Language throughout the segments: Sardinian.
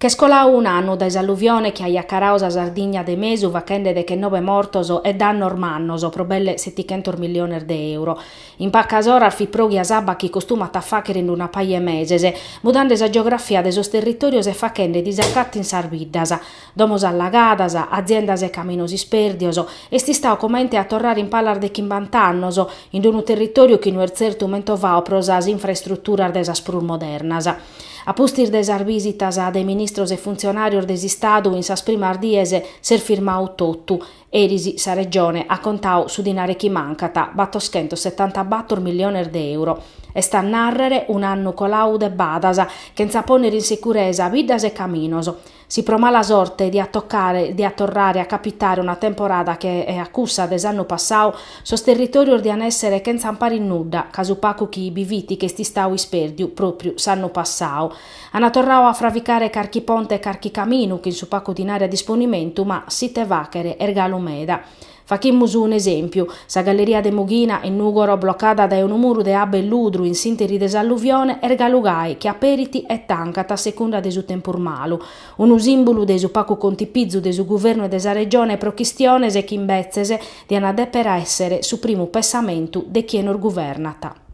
Ch'est colau un'annu dae s'alluvione chi aiat carau sa Sardigna de mesu fachende dechenobe mortos e dannos mannos pro belle setichentos milliones de euro. In pacas oras fit pròghia s'abba chi costumat a fàghere in una paja 'e meses, mudande sa geografia de sos territòrios e fachende disacatos in sas biddas. Domos allagadas, aziendas e caminos ispèrdios, est istau comente a torrare in palas de chimbant'annos, in unu territòriu chi no est tzertu mentovau pro sas infraestruturas de sas prus modernas. A pustis de sas bìsitas de ministros e funtzionàrios de s'Istadu in sas primas dies s'est firmau totu. Eris sa Regione at contau su dinare chi mancat, batoschentos setantabàtoro milliones de euro. Est a nàrrere un'annu colau de badas, chentza pònnere in sicuresa biddas e caminos. Si pro mala sorte diat tocare diat torrare a capitare una temporada che e a cussa de s'annu passau, sos territòrios dian èssere chentza amparu 'e nudda, ca su pacu chi bi fit ch'est istau ispèrdiu pròpriu s'annu passau. An torrau a fravicare carchi ponte e carchi caminu, chin su pacu dinari a disponimentu, ma s'ite fàchere, est galu meda. Fachimus un'esèmpiu, sa galleria de Mughina, in Nùgoro, blocada dae unu muru de abba e ludru in s'ìnteri de s'alluvione, est galu gai chi aperit e tancat a secunda de su tempus malu. Unu sìmbulu de su pacu contipizu de su guvernu e de sa Regione pro chistiones chi imbetzes diant a dèpere èssere su primu pensamentu de chie nos guvernat.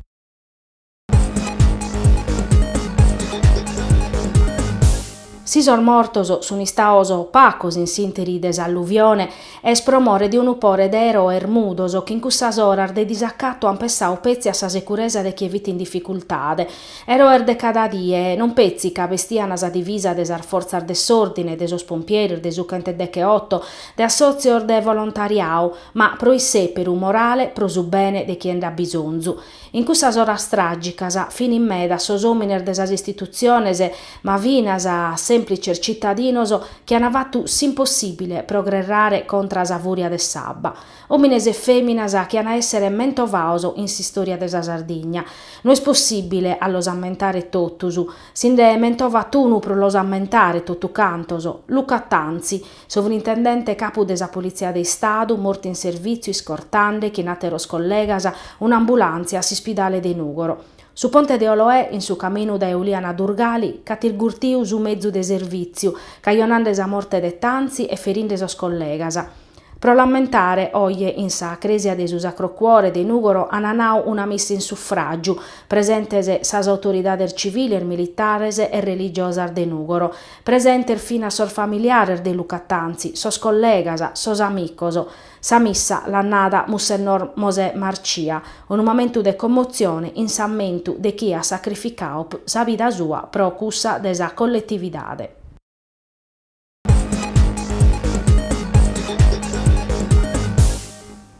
Si sos mortos sun istaos pacos in s'interi de s'alluvione, est pro more de unu pore de eroes mudos chi in cussas oras de disacatu ant pessau petzi a sa securesa de chie fit in dificultade. Eroes de cada die, non petzi ca bestian sa divisa de sas fortzas de s'ordine, de sos pompieris, de su chentu e decheoto, de assotzios de volontariau, ma pro isseperu morale, pro su bene de chie nd'at bisonzu. In cussas oras tràgicas finin medas sos òmines de sas istitutziones, ma finas sèmplices tzitadinos chi an fatu s'impossìbile pro gherrare contra sa fùria de s'abba. Òmines e fèminas chi an a èssere mentovaos in s'istòria de sa Sardigna. No est possìbile a los ammentare totus. Si nde mentovat unu pro los ammentare totu cantos, Luca Tanzi, Sovrintendente capu de sa Politzia de Istadu, mortu in servìtziu iscortande, chin àteros collegas, un'ambulàntzia a s'ispidale de Nùgoro. Su ponte de Oloè, in su caminu dae Uliana a Durgali, ch'at irgurtiu su mezu de servìtziu, cajonande sa morte de Tanzi e ferinde sos collegas. Pro l'ammentare, oje, in sa crèsia de su Sacro Cuore de Nùgoro ant nau una missa in sufràgiu, presentes sas autoridades civiles, militares e religiosas de Nùgoro. Presentes finas sos familiares de Luca Tanzi, sos collegas, sos amicos. Sa missa l'at nada Mussennor Mosè Marcia, unu mamentu de commotzione in s'ammentu de chie at sacrificadu sa vida sua pro cussa de sa colletividade.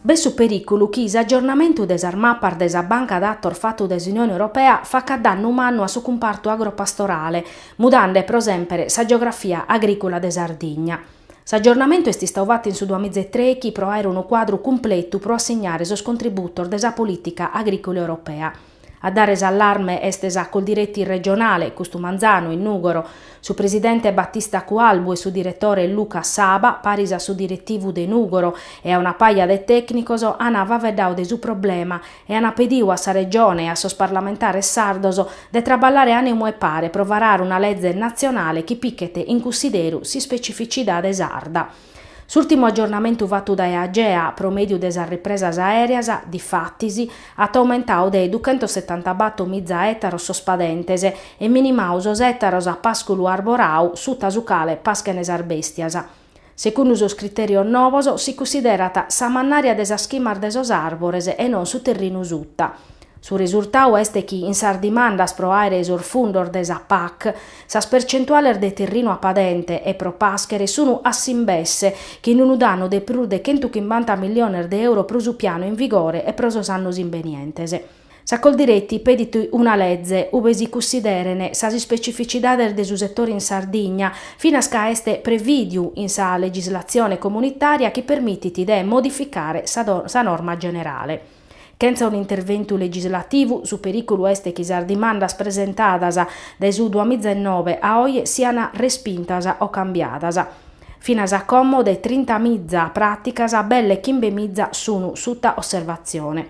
B'est su perìculu chi s'aggiornamentu de sas mapas de sa banca datos fatu de s'Unione Europea facat dannu mannu a su cumpartu agropastorale, mudande pro semper sa geografia agrìcula de Sardigna. S'aggiornamentu est istau fatu in su duamiza e trechi pro àere unu cuadru cumpletu pro assignare sos contributos de sa polìtica agrìcula europea. A dare s'allarme est sa coldiretti regionale, custu manzanu, in Nùgoro. Su presidente Battista Cualbu e su diretore Luca Saba, paris a su diretivu de Nùgoro e a una paja de tècnicos, ana faveddau de su problema e ana pediu a sa Regione e a sos parlamentares sardos de traballare ànimu e pare pro varare una leze natzionale chi pichet in cunsideru s'ispecificidade sarda. S'ùrtimu agiornamentu fatu dae Agea pro mèdiu de sas ripresas aèreas, difatis, at aumentau de duchentosetantabato miza ètaros sos padentes e minimau sos ètaros a pàsculu arborau suta su cale paschen sas bèstias. Secundu sos critèrios novos, si cunsiderat sa mannària de sas chimas de sos àrbores e non su terrinu suta. Su resurtau est chi in sas dimandas pro àere sos fundos de sa pac, Sas percentuales de terrinu a padente e pro pàschere sunu a s'imbesse, chin unu dannu de prus de chentu chimbanta milliones de euro pro su pianu in vigore e pro sos annos imbenientes. Sa Coldiretti pedit una leze ube si cussideren sas ispecificidades de su setore in Sardigna, finas ca est prevìdiu in sa legislatzione comunitària chi permitit de modificare sa norma generale. Chentza un'interventu legislativu, su perìculu est chi sas dimandas presentadas dae su duamizainnobe a oje siant respintas o cambiadas. Finas a como de trintamiza pràticas belle chimbemiza sunt suta osservatzione.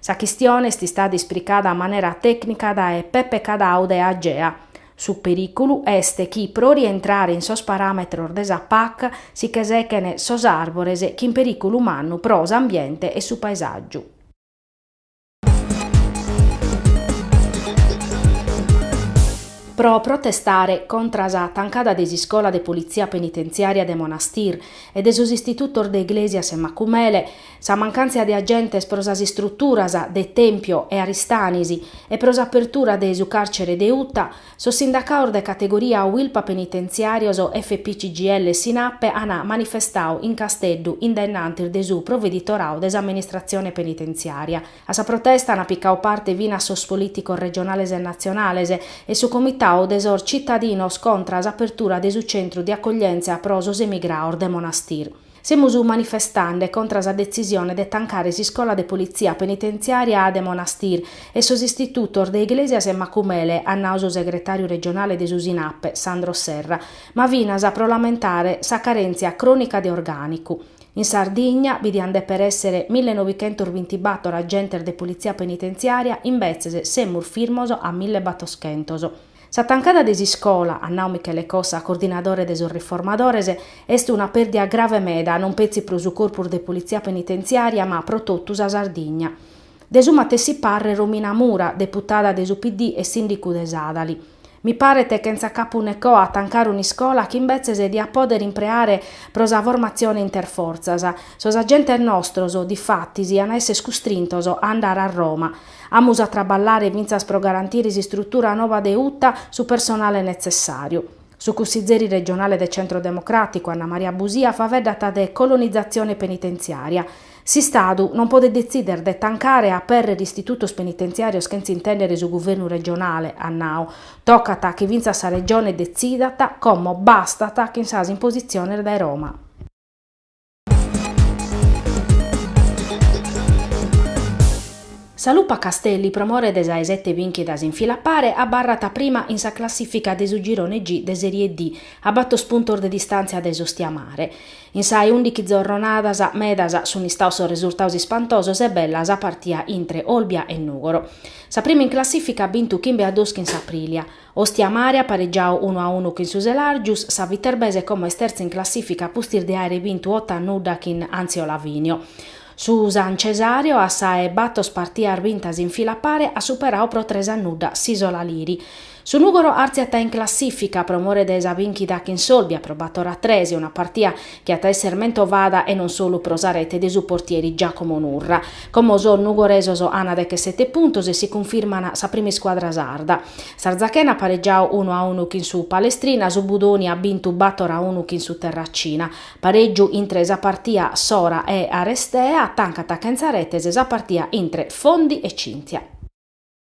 Sa chistione est istada ispricada a manera tècnica dae Peppe Cadau de Agea. Su perìculu est chi pro rientrare in sos paràmetros de sa pac si che sechent sos àrbores chin perìculu mannu pro s'ambiente e su paesàgiu. Pro protestare contra sa tancada de s'iscola de politzia penitentziària de Monastir e de sos istitutos de Iglesias e Macumele, Sa mancàntzia de agentes pro sas istruturas de Tempio e Aristanis e pro s'apertura de su càrcere de Uta, sos sindacaos de categoria Uilpa Penitentziàrios, FPCGL e Sinappe an manifestadu in Casteddu in dae innantis de su proveditoradu de s'amministratzione penitentziària. A sa protesta an picau parte finas sos polìticos regionales e natzionales e su comitadu de sos tzitadinos contra s'apertura de su centru de acoglièntzia pro sos emigrados de Monastir. Semus manifestande contra sa detzisione de tancare s'iscola de politzia penitentziària a de Monastir e sos istitutos de Iglesias e Macumele, at nau su segretàriu regionale de su Sinappe, Sandro Serra, ma finas pro lamentare sa carèntzia crònica de orgànicu. In Sardigna bi diant dèpere èssere mille novichentos bintibator agentes de politzia penitentziària, imbetzes semus firmos a mille batoschentos. Sa tancada de s'iscola, at nau Michele Cossa, coordinadore de sos riformadores, est una pèrdia grave meda, non petzi pro su corpus de politzia penitentziària ma pro totu sa Sardigna. De su matessi parre Romina Mura, deputada de su PD e sìndicu de Sàdali. Mi paret chentza capu ne coa tancare un'iscola chi imbetzes diat pòdere impreare pro sa formatzione interfortzas. Sos agentes nostros, difatis, iant a èssere custrintos a andare a Roma. Amus a traballare fintzas pro garantire s'istrutura noba de Uta su personale netzessàriu. Su cussizeri regionale de Centro Democràticu, Anna Maria Busia, faveddat de colonizatzione penitentziària. S'Istadu non podet detzìder de tancare e apèrrere istitutos penitentziàrios chentza intèndere su guvernu regionale, at nau. Tocat chi fintzas sa Regione detzidat, como bastat chin sas impositziones dae Roma. Sa Lupa Castelli pro more de sa 'e sete bìnchidas in fila pare abarrat prima in sa classìfica de su girone G de Serie D, a batos puntos de distàntzia dae s'Ostia Mare. In sa 'e ùndichi zorronadas, medas sunt istaos sos resultados ispantosos e bella sa partia intre Olbia e Nùgoro. Sa prima in classìfica at bintu chimbe a duos chin s'Aprilia. Ostia Mare at paregiau unu a unu chin su Selàrgius, sa Viterbese como est tertza in classìfica pustis de àere bintu oto a nudda chin Anzio Lavinio. Su San Cesàrio a sa 'e batos partias bintas in fila a pare at superau pro tres a nudda s'Isola Liri. Su Nùgoro artziat in classìfica pro more de sa bìnchida chin s'Olbia pro bator a tres, una partia chi at a èssere mentovada e non solu pro sa rete de su portieri Giacomo Nurra. Como sos nugoresos ana dechesete puntos e si cunfirmana sa prima iscuadra sarda. S'Arzachena at paregiau unu a unu chin su Palestrina, su Budoni at bintu bator a unu chin su Terracina. Paregiu intre sa partia Sora e Arestea, tancat chentza retes sa partia intre Fondi e Cynthia.